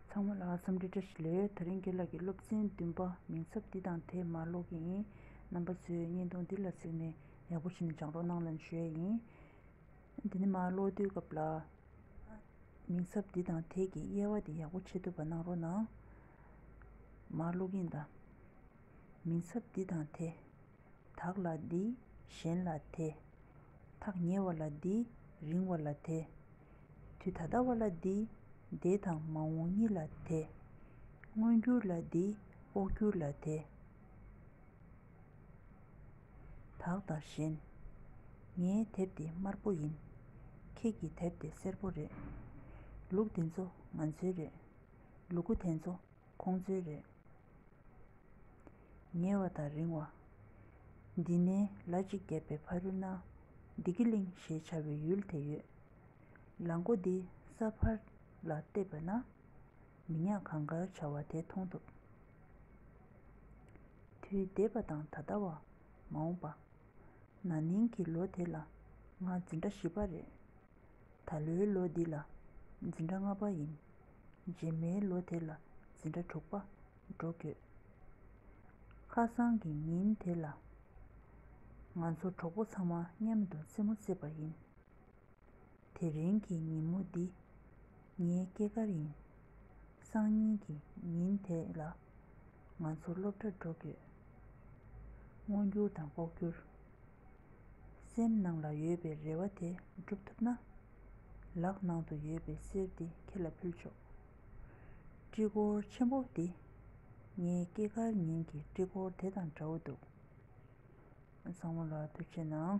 ཚང་མ་ལ་འཚམས་འདྲི་བཀྲ་ཤིས་ལོས་ཡོད་ད་རིང་དགེ་ལགས་ཀྱི་སློབ་ཚན་བདུན་པ་མིང་ཚབ་འདི་དང་དེ་མར་ཀློག་གི་ཡིན་རྣམ་པ་ཚོས་བརྙན་ཐུང་འདི་ལ་གཟིགས་ནས་ཡག་པོ་བྱས་ནས་སྦྱང་རོགས་གནང་ལན་ཞུ་ཡས་ཡིན། དེ་ནས་མར་ཀློག་དུས་སྐབས་ལ་མིང་ཚབ་འདི་དང་དེ་གི་དབྱེ་བ་དེ་ཡག་པོ་ཕྱེ་ཐུབ་པ་གནང་རོགས་གནང། མར་ཀློག་གིན་གདའ། མིང་ཚབ་འདི་དང་དེ། དག་ལ་འདི་གཞན་ལ་དེ། ཐག་ཉེ་བ་ལ་འདི་རིང་བ་ལ་དེ། དུས་ད་ལྟ་བ་ལ་འདི། འདས་དང་མ་འོངས་གཉིས་ལ་དེ། མངོན་གྱུར་ལ་འདི། ཨོག་གྱུར་ལ་དེ། དག་དང་གཞན། ངའི་དེབ་འདི་དམར་པོ་ཡིན། ཁྱེད་ཀྱི་དེབ་དེ་སེར་པོ་རེད། ལུག་དེ་ཚོ་ང་ཚོའི་རེད། ལུ་གུ་དེ་ཚོ་ཁོང་ཚོའི་རེད། ཉེ་བ་དང་རིང་བ། འདི་ནས་ལ་གཅིག་བརྒྱབ་པའི་ཕ་རུ་ན། སྡིག་གི་གླིང་ཞེས་བྱ་བའི་ཡུལ་དེ་ཡོད། ལ་མགོ་འདི་ས་ཕར་ལ་བལྟས་པ་ན། མི་ཉག་གང་དགར་བྱ་བ་དེ་མཐོང་ཐུབ། དུས་འདས་པ་དང་ད་ལྟ་བ། མ་འོངས་པ། ན་ནིང་གི་ལོ་དེ་ལ་ང་འཛིན་གྲྭ་བཞི་པ་རེད། ད་ལོའི་ལོ་འདི་ལ་འཛིན་གྲྭ་ལྔ་པ་ཡིན། རྗེས་མའི་ལོ་དེ་ལ་འཛིན་གྲྭ་དྲུག་པ་འགྲོ་དགོས། ཁ་སང་གི་ཉིན་དེ་ལ། ང་ཚོ་གྲོགས་པོ་ཚང་མ་མཉམ་དུ་རྩེད་མོ་རྩེས་པ་ཡིན། དེ་རིང་གི་ཉིན་མོ་འདི་ངའི་སྐྱེས་སྐར་ཡིན། སང་ཉིན་གྱི་ཉིན་དེ་ལ་ང་ཚོ་སློབ་གྲྭར་འགྲོ་དགོས། སྔོ་འགྱུར་དང་ལྐོག་གྱུར། སེམས་ནང་ལ་ཡོད་པའི་རེ་བ་དེ་འགྲུབ་ཐུབ་ན། ལག་ནང་དུ་ཡོད་པའི་གསེར་དེ་ཁྱེད་ལ་ཕུལ་ཆོག། དཀྲིས་འཁོར་ཆེན་པོ་འདི་ངའི་སྐྱེས་སྐར་ཉིན་གྱི་དཀྲིས་འཁོར་དེ་དང་འདྲ་བོ་འདུག། བཟང་མོ་ལ་ཐུགས་ཆེ་གནང།